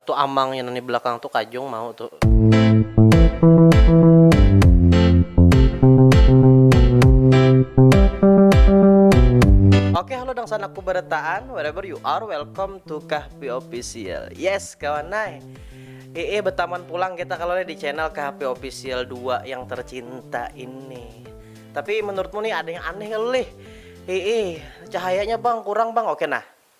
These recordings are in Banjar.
Tu amang nya nang di belakang tu kajung mau tu. Oke halo dangsanakku barataan wherever you are welcome to kahpi official yes kawan ai ee betaman pulang kita kalo di channel kahpi official dua yang tercinta ini tapi menurutmu nih ada yang aneh kalo lih ee cahayanya bang kurang bang oke nah.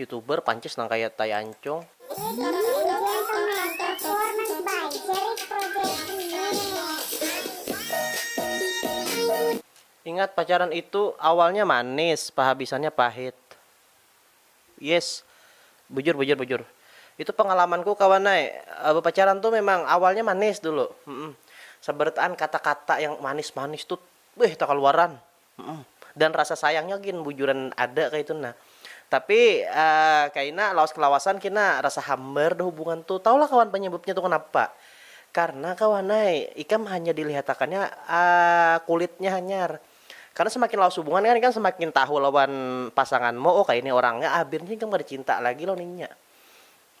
Youtuber pancis nang kaya tai ancung. Ingat pacaran itu awalnya manis pahabisannya pahit. Yes. Bujur bujur bujur. Itu pengalamanku kawan ai. Bepacaran tu memang awalnya manis dulu. Seberataan kata-kata yang manis-manis tu beuh takaluaran. Dan rasa sayangnya gin bujuran ada kaitu nah. Tapi kaina lawas kelawasan kina rasa hambar dah hubungan tu. Tahu lah kawan penyebabnya tu kenapa. Karena kawan ai ikam hanya dilihatakannya kulitnya hanyar. Karena semakin lawas hubungan kan ikam semakin tahu lawan pasanganmu, oh kaya ini orangnya, abirnya ikam kada cinta lagi lawan inya.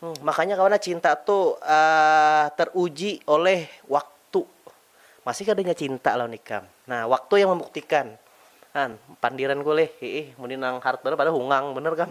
Hmm, makanya kawan ah cinta tu teruji oleh waktu. Masih kada inya cinta lawan ikam? Nah, waktu yang membuktikan. Nah, pandiranku lih, hiih muni nang hard banar padahal hungang banar kam.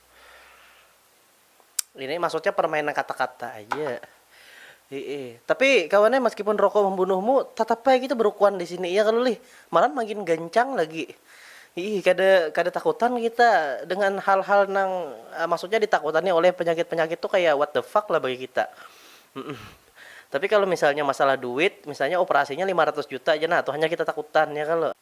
Ini maksudnya permainan kata-kata aja. Iya. Tapi kawannya meskipun rokok membunuhmu, tetap aja kita berukuan di sini ya kalau lih. Malah makin gancang lagi. Ih, kada kada takutan kita dengan hal-hal nang uh, maksudnya ditakutani oleh penyakit-penyakit tuh kayak what the fuck lah bagi kita. Mm-mm. Tapi kalau misalnya masalah duit, misalnya operasinya 500 juta aja nah, tuh hanya kita takutan ya kalau.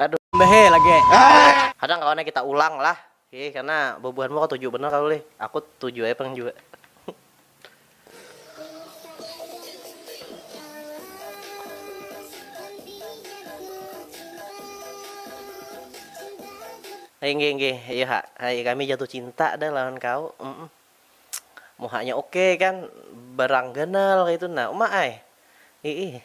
Aduh. Mbahee lagi. Kadang kawannya kita ulang lah. Hih karena bubuhanmu katuju banar kalo lih. Aku tuju ai pang jua. Inggih inggih iyo ha ai kami jatuh cinta dah lawan kau um. Muhanya oke kan berang ganal kaitu nah uma ai. Iih.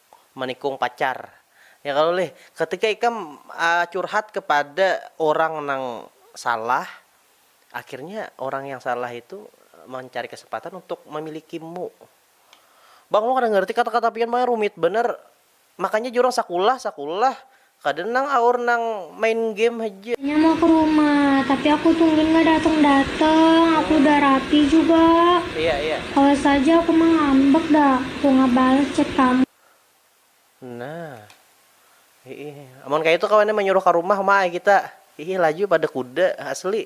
manikung pacar ya kalo lih ketika ikam curhat kepada orang nang salah akhirnya orang yang salah itu mancari kesempatan untuk memiliki mu bang ulun kada ngerti kata kata pian pang rumit banar makanya jar urang sakulah sakulah Kada nang aur nang main game haja. Inya mau ke rumah, tapi aku tungguin nggak dateng-dateng, aku udah rapi juga. Awas haja aku mah ngambek dah, aku nggak balas chat kamu. Nah. Hiih. Amun kaya itu kawannya manyuruh ka rumah ma ai kita. Hiih laju pada kuda asli.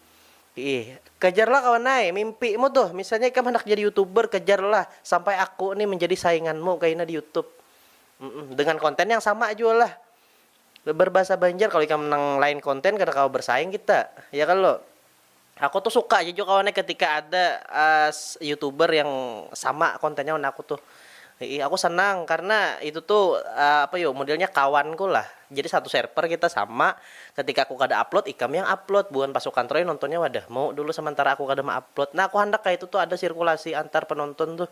Iih, kejarlah kawan ai mimpimu tuh, misalnya ikam handak jadi youtuber kejarlah sampai aku nih menjadi sainganmu kaina di youtube, dengan konten yang sama jua lah berbahasa banjar, kalo ikam nang lain konten kada kawa bersaing kita ya kalo, aku tuh suka aja jua kawan ai ketika ada youtuber yang sama kontennya wan aku tuh. Iih aku senang karena itu tu apa yu modelnya kawan ku lah jadi satu serper kita sama ketika aku kada upload ikam yang upload buhan pasukan troy nontonnya wadah mau dulu sementara aku kada meupload nah aku handak kaya itu tu ada sirkulasi antar penonton tuh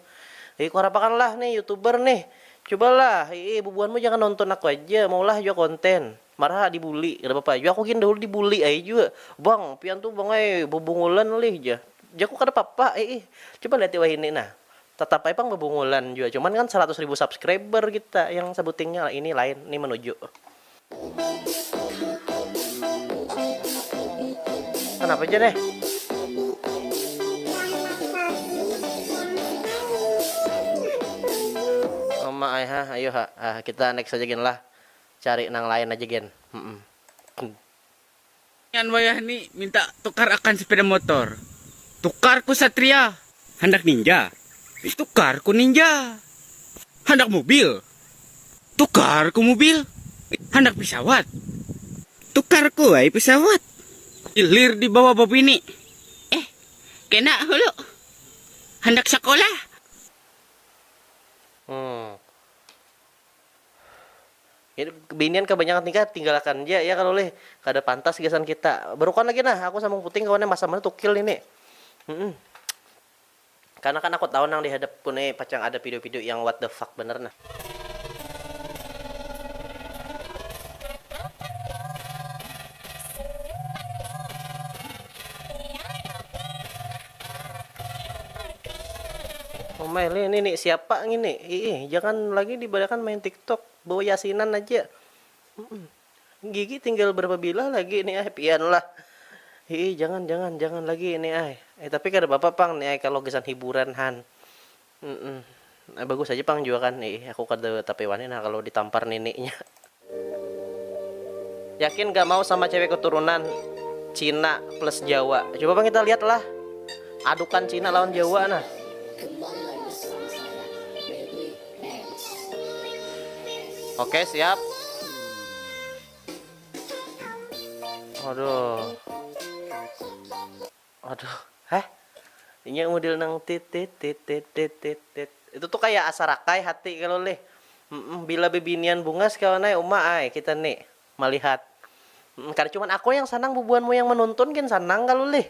iih kuharapakan lah nih youtuber nih cuba lah iih bubuhan mu jangan nonton aku aja maulah jua konten marha di bully kada papa jua aku gin dahulu di bully ai jua bang pian tu bang ai bebungulan lih jar jaku kada papa iih coba lihat wahini nah. Tetap ai pang bebungulan jua cuman kan seratus ribu subscriber kita yang sebutingnya lah ini lain ni menuju. Kenapa ja neh. Uma ai hah ayu ha hah kita next aja gin lah cari nang lain aja gin. Inyan wayah ni minta tukar akan sepeda motor. Tukar ku satria. Handak ninja. Tukar ku ninja. Handak mubil. Tukar ku mubil. Handak pisawat. Tukar ku ai pisawat. Hilir di bawah babini. Eh kena hulu. Handak sakolah. Hmm. Binian kabanyakan nikah tinggalakan ja ya kalo leh kada pantas gasan kita. Berukon lagi nah aku sambung puting kawan nya masam banar tukil nini. Humm. Karena kan aku tahu nang di hadap ku ni pacang ada video video yang what the fuck banar nah. Umai, ini ni siapa ngini? Iih, jangan lagi dibadakan main tiktok, bawa yasinan aja. Gigi tinggal berapa bilah lagi ni ai, pian lah. Iih, jangan, jangan, jangan lagi ni ai. Eh, tapi kada papa pang ni ai kalo gasan hiburan han. Humm. Bagus haja pang jua kan. Iih, aku kada tapi wani nah kalu ditampar nininya. Yakin ga mau sama cewek keturunan Cina plus Jawa. Coba pang kita lihat lah adukan Cina lawan Jawa nah. Oke, siap. Aduh. Aduh, heh. Inya mudil nang tit tit tit tit tit tit tit. Itu tuh kaya asa rakai hati kalu lih. Mmm, bila bibinian bungas kawan ai, uma ai, kita ni malihat. Mmm, kada cuman aku yang sanang bubuhan mu yang manuntun gin sanang kalu lih.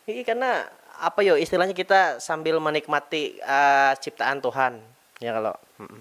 Hihi, karna apa yo istilahnya kita sambil manikmati ciptaan Tuhan, ya kalo. Mmm.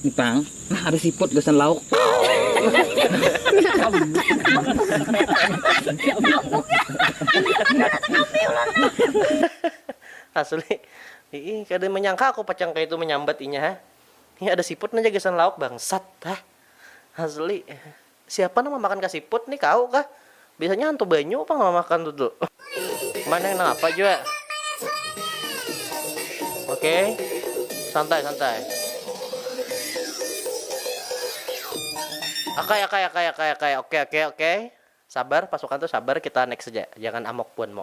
Ipang, nah ada siput gasan lauk. Asli, ii kada manyangka aku pacang kaya itu manyambat inya ha, ih ada siput nah ja gasan lauk bangsat ha, asli. Siapa nang mamakan ka siput ni kau kah? Biasanya hantu banyu pang nang mamakan tu tu. Mana nang apa jua. Oke. Okay. Santai santai. Akai akai akai akai akai. Oke okay, oke okay, oke. Okay. Sabar pasukan tuh sabar kita next aja. Jangan amok puan mo.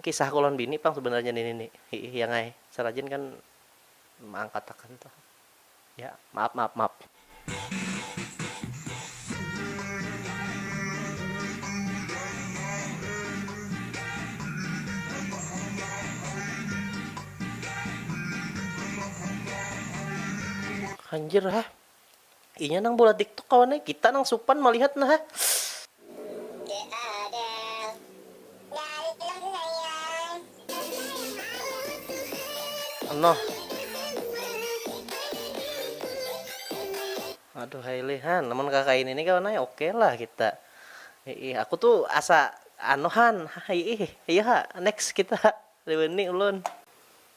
kisah ku lawan bini pang sebenarnya ini nih hiih yang ai serajin kan meangkat akan tuh ya maaf maaf maaf. Anjir ha. Inya nang bulat diktok kawan ai, kita nang supan malihat nah ha. Noh. Aduhai lih han, amun kakaini ni kawan ai oke lah kita. Iih, aku tu asa anu han, iih, iya ha next kita ha, wani ulun.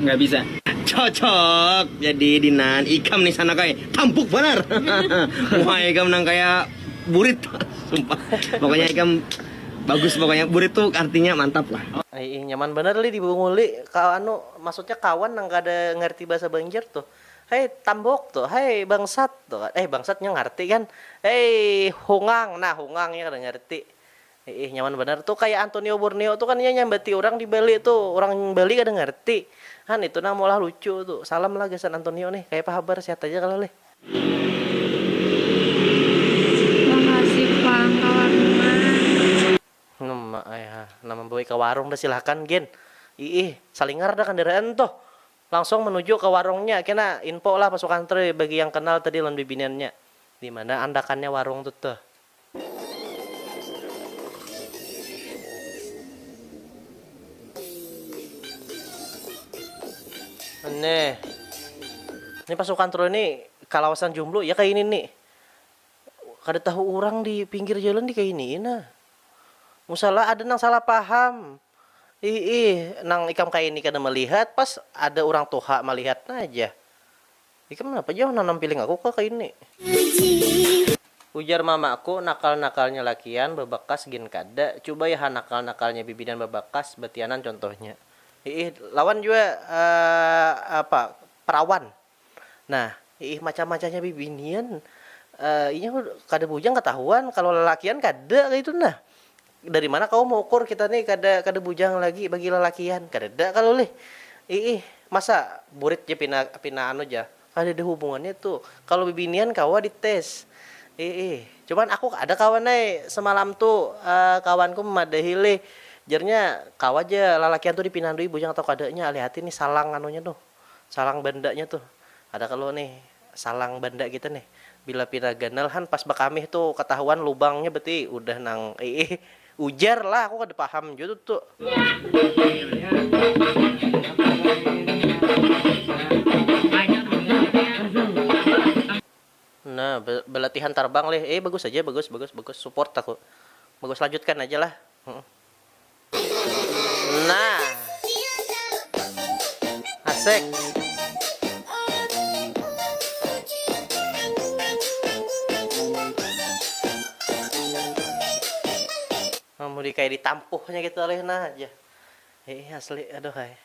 Nggak bisa. Cocok jadi dinan ikam nih sanak ai. Tampuk banar. Muha ikam nang kaya burit. Sumpah. Pokoknya ikam bagus pokoknya. Burit tuh artinya mantap lah. Ai ih nyaman banar lih dibungul lih ka anu maksudnya kawan nang kada ngarti bahasa banjar tuh hei tambok tuh hei bangsat tuh kan eh bangsat nya ngarti kan hei hungang nah hungang nya kada ngarti Hiih nyaman banar tu kaya Antonio Borneo tu kan inya nyambati urang di Bali tu urang Bali kada ngarti han itu nang maulah lucu tu salam lah gasan Antonio nih kayapa habar sehat aja kah leh. Makasih pang ka warung man. Num ai ha nang mambawai ka warung dah silahkan gin iih salingar dah kandaraan tuh langsung manuju ka warungnya kena info lah pasukan trui bagi yang kenal tadi lawan bibiniannya dimana andakannya warung tu tuh. Nih. Ini pasukan Tru ini kalawasan jomblo ya kayak ini nih. Kada tahu orang di pinggir jalan di kayak ini nah. Musalah ada nang salah paham. Ih ih, nang ikam kayak ini kada melihat pas ada orang tuha melihat nah aja. Ikam napa jauh nanam piling aku kah kaini? Ujar mamaku, nakal-nakalnya lakian babakas gin kada, cubai ha nakal-nakalnya bibinan babakas, batianan contohnya. Iih, lawan jua apa perawan. Nah, iih macah-macahnya bibinian, inya kada bujang katahuan, kalo lalakian kada kaytu nah. Dari mana kawa maukur kita ni kada kada bujang lagi bagi lalakian. Kadada kalu lih. Iih, masa burit ja pina pina anu ja. Kadada hubungannya tu. Kalu bibinian kawa di tes. Iih. Cuman aku ada kawan ai semalam tu kawanku memadahi lih. Jarnya kawa ja lalakian tu dipinandui bujang atau kadanya. Alih hati nih salang anunya tuh. Salang bandanya tuh. Ada kalu nih. Salang banda kita nih. Bila pina ganal han pas bakamih tu katahuan lubangnya beti udah nang iih. Ujar lah aku kada paham jua tu tu. Nah balatihan tarbang lih. Iih bagus haja bagus bagus bagus support aku. Bagus lanjutkan haja lah. Nah. Asik. Mau di kayak ditampuhnya gitu alih nah aja. Hei asli aduh hai.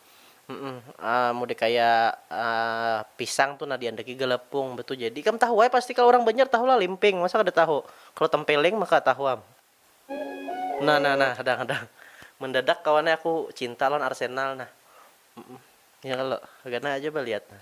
mudik kaya pisang tu nah diandaki galapung betu jadi ikam tahu ai pasti kalo orang banjar tahu lah limping masa kada tahu kalo tempeling maka tahu am nah nah nah hadang hadang mendadak kawan ai aku cinta lawan arsenal nah ya kalo kagana aja baliat nah.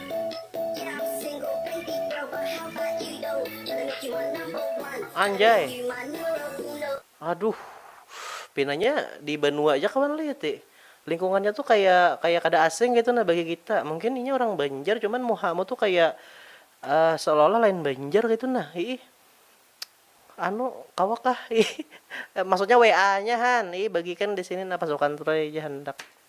Anjay. Aduh. Pinanya di banua aja kawan lih ti. Lingkungannya tuh kayak kayak kada asing gitu nah bagi kita. Mungkin inya orang Banjar cuman muhamu tuh kayak uh, seolah-olah lain Banjar gitu nah. Ih. Anu kawa kah? Ih. Maksudnya WA-nya han. Ih bagikan di sini nah pasukan Troy aja hendak.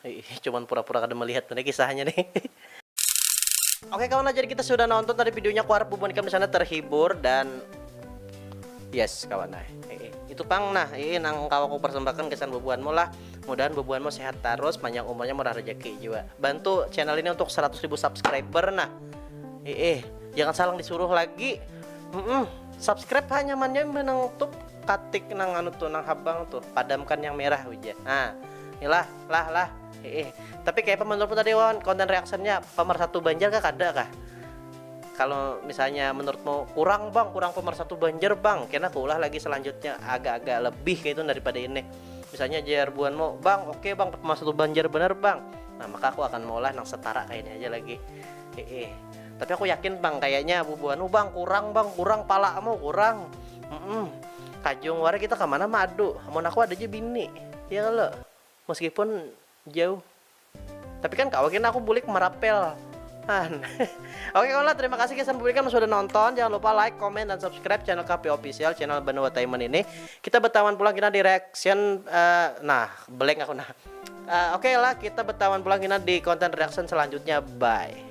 Hiih cuman pura pura kada melihat tu nih kisahnya nih. Oke kawan nah jadi kita sudah nonton tadi videonya kuharap bubuhan ikam disana terhibur dan yes kawan nah itu pang nah ini nang kau aku persembahkan kesan bubuhanmu lah mudahan bubuhanmu sehat terus panjang umurnya murah rezeki juga bantu channel ini untuk 100 ribu subscriber nah eh jangan salah disuruh lagi mm -mm. subscribe hanya mannya menang tuh katik nang anu tuh nang habang tuh padamkan yang merah uja nah Ilah, lah, lah. Iih. Tapi kayapa menurutmu tadi Wawan konten reactionnya pemersatu Banjar kah kada kah? Kalau misalnya menurutmu kurang bang, kurang pemersatu Banjar bang, kena kuulah lagi selanjutnya agak-agak lebih kayak itu daripada ini. Misalnya jar buanmu, bang oke okay, bang pemersatu Banjar bener bang. Nah maka aku akan maulah nang setara kayak ini aja lagi. Iih. Tapi aku yakin bang kayaknya bubuanmu bang kurang bang kurang palamu kurang. Mm -mm. Kajung wara kita kemana madu. Mau aku ada aja bini. Ya kalo, meskipun jauh. Tapi kan kawa gin aku bulik merapel. Han. Oke kaula, terima kasih gasan bulikan sudah nonton. Jangan lupa like, comment, dan subscribe channel KP Official, channel Benuatainment ini. Kita betawan pulang gina di reaction eh, nah, blank aku nah. Eh, Oke lah, kita betawan pulang gina di konten reaction selanjutnya. Bye.